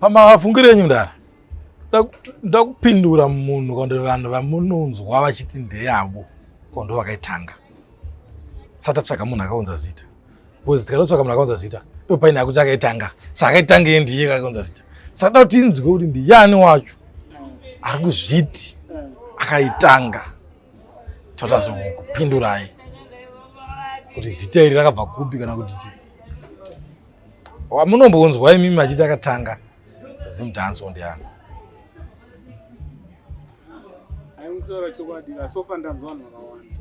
Pamavafungiro enyu mdara ndakupindura munhu kondo vanhu vamunonzwa vachiti ndeyavo kondo vakaitanga satatsvaga munhu akaunza zita bcause tikatotsvaga munhu akaunza zita ndopaine akuti akaitanga saakaitanga ye ndiye akaunza zita saka da kuti inzwe kuti ndiyani wacho ari kuzviti akaitanga tatazokupindurai kuti zita iri rakabva kupi kana kuti chii wamunombonzwa imi machiti akatanga zimdanso ndiani kutaura chokwadi vasofa ndanzwa vanhu vakawanda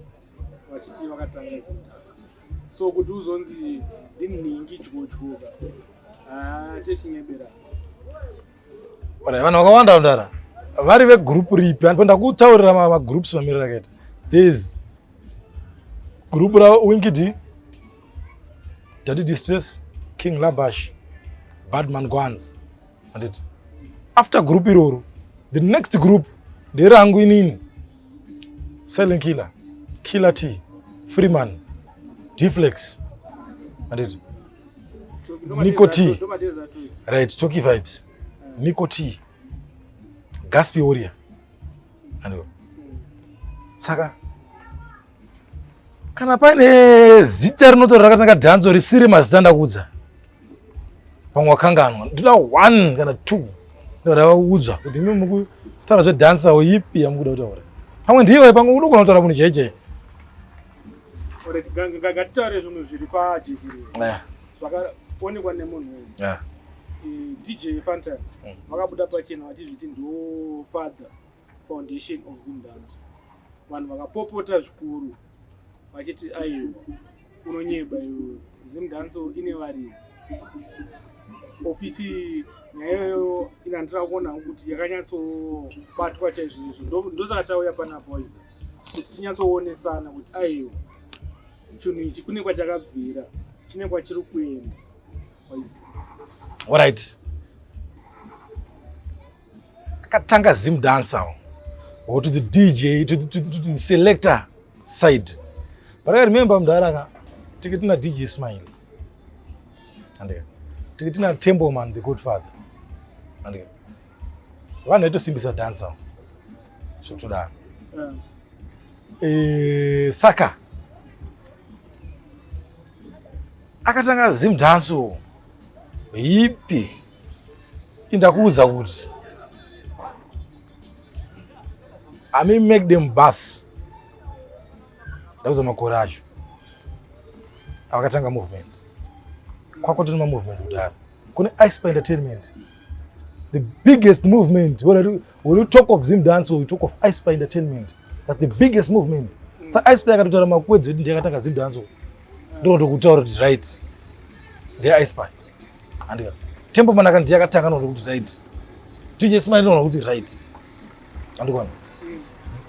vachiti vakatanga zimdanso so kuti uzonzi ndinhingi dyodyuka haa ah, techingebera vanhu vakawanda vandara vari vegroup ripi andipo ndakutaurira magroups mamiriro akaita thereis group rawinkidi dadi distress king labash badman guns anditi after group iroro the next group nderangu inini silent killer killer t freeman deflex anditi Nico T. Right, Toki Vibes. Nico T. Gaspi Warrior. Hello. Saka kana pane zita rinotora rakatanga dhanzo risiri mazita ndakudza pamwe wakanganwa ndoda one kana two ndoda vaudzwa kuti mi mukutaura zvedhansa ipi yamukuda kutaura pamwe ndiwe pamwe unogona kutaura munhu jeje ngatitaure zvinhu zviri pajekiriro eh. zvakaonekwa nemunhu wese eh. dj fantan mm. vakabuda pachena vachizviti ndo father foundation of zimdanzo vanhu vakapopota zvikuru vachiti aiwa unonyeba iwe zimdanzo ine varidzi ofiti nyaya iyoyo inandira kuona kuti yakanyatsobatwa chaizvoizvo ndosaka tauya pana poison kuti tinyatsoonesana kuti aiwa chinhu ichi kune kwachakabvira chine kwachiri kuenda orit akatanga zim dancer or to the dj to, to, to, to the selector side but i remember mdara ka tiki tina dj smile andika tiki tina temboman the good father andika vanhu vaitosimbisa dhansa zvokutodaro mm. eh, saka akatanga zim dhanso hipi indakuudza kuti ami make them bus ndakuudza makore acho avakatanga movement kwakotona mamovement kudaro kune icepa entertainment the biggest movement when you, when you talk of zim dance or you talk of ice by entertainment that's the biggest movement mm. sa ice by akatotaura makwedzi ekuti ndiyakatanga zim dance ndokuti kutaura kuti right ndeye ice by andika tempo manaka ndiyakatanga nokuti kuti right tije smile noona kuti right andikwana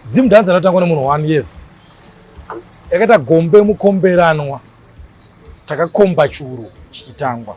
zim dance anotangwa nemunhu one yes yakaita gombe mukomberanwa takakomba churu chichitangwa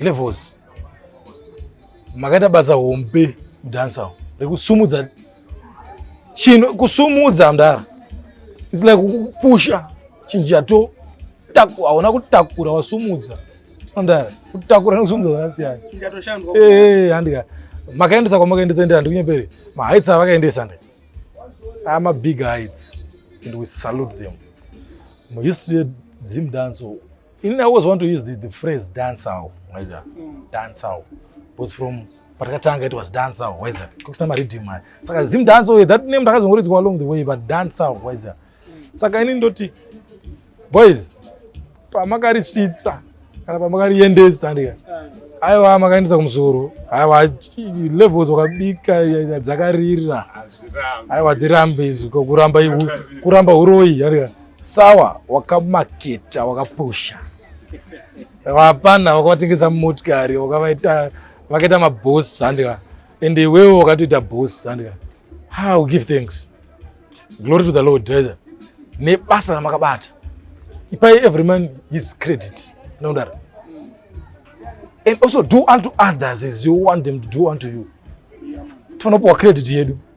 levels makaita basa hombe kudansa rekusumudza chinhu kusumudza mdara its like kupusha chinhu chato hauna kutakura wasumudza mdara kutakura nekusumudza zvakasiyana eh, handika makaendesa kwamakaendesa ndi handikunyepere mahaits avakaendesa ndi ama big heights and we salute them muhistory yedzimdanso In I always want to use the, the phrase dance out, whether mm. dance out. Because from patakatanga it was dance out, whether kukusina mariddim aya. Saka Zim dance out, that name ndakazongoridzwa along the way, but dance out, whether. Saka ini ndoti, boys, pamakarityitsa kana pamakariendesa ndika aiwa makaendesa kumusoro aiwa levels wakabika dzakarira aiwa dzirambe izvi kuramba kuramba uroyi andika Sawa, wakamaketa, wakapusha. Hapana, wakavatengesa motikari, wakavaita vakaita maboss handika. And iwewe wakatoita boss handika. How give thanks. Glory to the Lord. Nebasa ramakabata. Ipai every man his credit. No doubt. And also do unto others as you want them to do unto you. Tinopuwa credit yedu.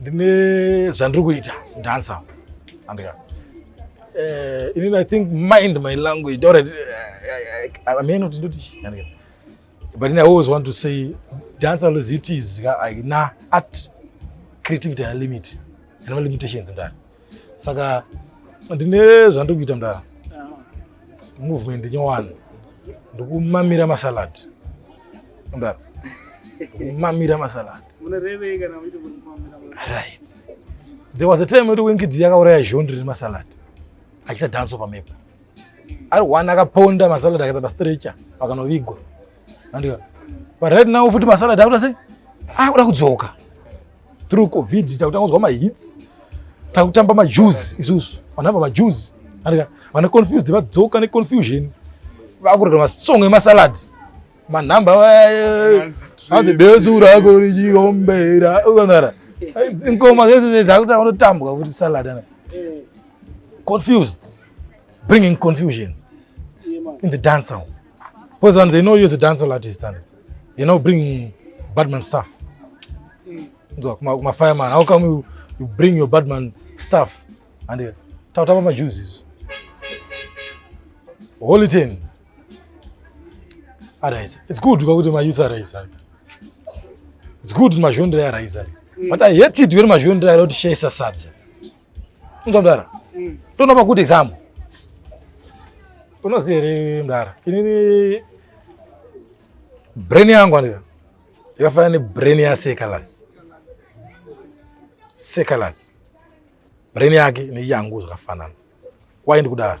ndine zvandiri kuita dansa andika eh, inini i think mind my language or amene kuti ndoti andika but i always want to say dance as it is na art creativity limit and no limitations mdani saka ndine zvandiri kuita mdara movement nyowani ndikumamira masalad mdara ndikumamira masalad right there was a time yekuti winkidi yakauraya zhondi rine masalad achisa dhanso pamepo ari one akaponda masalad akaisa pastrecha pakanovigwa andika but right now futi masalad akuda sei akuda kudzoka through covid takutanga kuzwa mahits takutamba majuzi isusu vanhu ava majuzi vana confused vadzoka neconfusion vakurega masong emasalad manhamba adebesura ako richiombera ukanara ngoma dzese dzakutanga kunotambwa kuti salad ana confused bringing confusion in the dancer because they know you as a dancer artist ana you now bring badman staff nzwa kuma fireman how come you, you bring your badman staff and uh, tautapa majuzi izvo holy ten arise it's good kwakuti mayouth arise it's good mazhondira yaraisa mm. but i hate it when mazhondira yara kuti shaisa sadza Inzwa mdara. Mm. Tona pa good example. Unoziva here mdara? Inini brain yangu andira. Yakafanana ne brain ya Sekalas. Sekalas. Brain yake ne yangu zvakafanana. Why ndikudaro?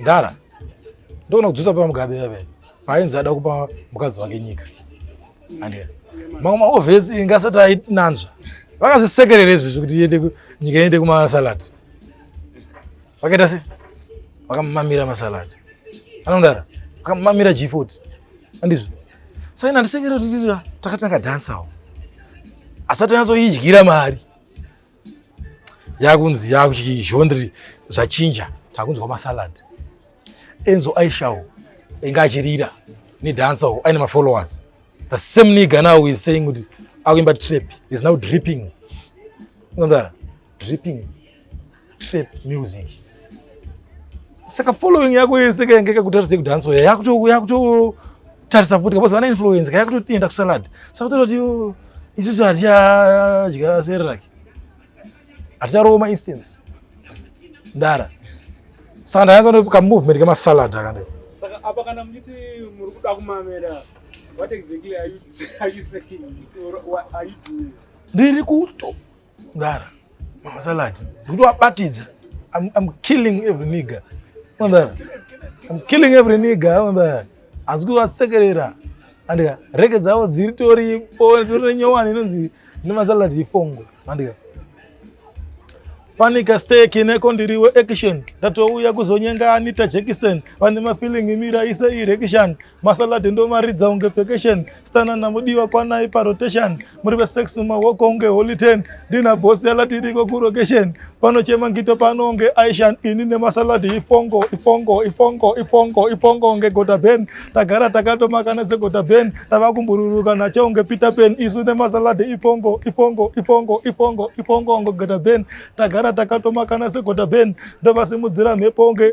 Ndara. Ndona kudzosa pa mugabe yabe. Painzi ada kupa mukadzi wake nyika. Andiya. Mama ovesi oh, ingasati ainanzva. Vakazvisekerera izvi zvekuti iende nyika iende kuma salad. Vakaita sei? Vakamamira masalad. Anondara. Vakamamira G40. Andizvo. Sasa inandisekerera kuti takatanga dansawo. Asati anzoidyira mari. yakunzi yakuchi genre zvachinja takunzwa masalad enzo aishawo inga achirira nedancer wo aine mafollowers the same nigga now is saying kuti akuimba trap is now dripping unamdara dripping trap music saka following yako yese kainge kakutarisei kuti hansoya yakutotarisa futi kapozi vana influence ka yakutoenda kusalad saka kutoita kuti oh, isusu hatichadya sereraki haticharooma instance ndara saka ndayanza nekamovement kemasalad akanda saka apa kana muchiti muri kuda kumamera what exactly are you, are you saying or what are you doing ndiri kuto Mdara, mama salad. Kuti wabatidza. I'm, I'm killing every nigga. Mdara. I'm killing every nigga. Mdara. Hanzi kuvasekerera. Andika, reke dzavo dziri tori po tori nyowani inonzi nema salad ifongo. Andika. Fanika steak ineko ndiriwe action. Ndatouya kuzonyenga Anita Jackson. Vane mafeeling mira ise erection. masalad ndomaridza unge vacation stana namudiwa kwanai parotation muri vesex mumawoko unge holy ten ndina bosi yalatiriko kurocation panochema ngito pano unge aishan ini nemasalad ifongo ifongo ifongo ifongo ifongo unge gota ben tagara takatomakana segota ben tava kumbururuka nacho unge peter pen isu nemasalad ifongo ifongo ifongo ifongo ifongo unge gota ben tagara takatomakana segota ben ndovasimudzira mhepo unge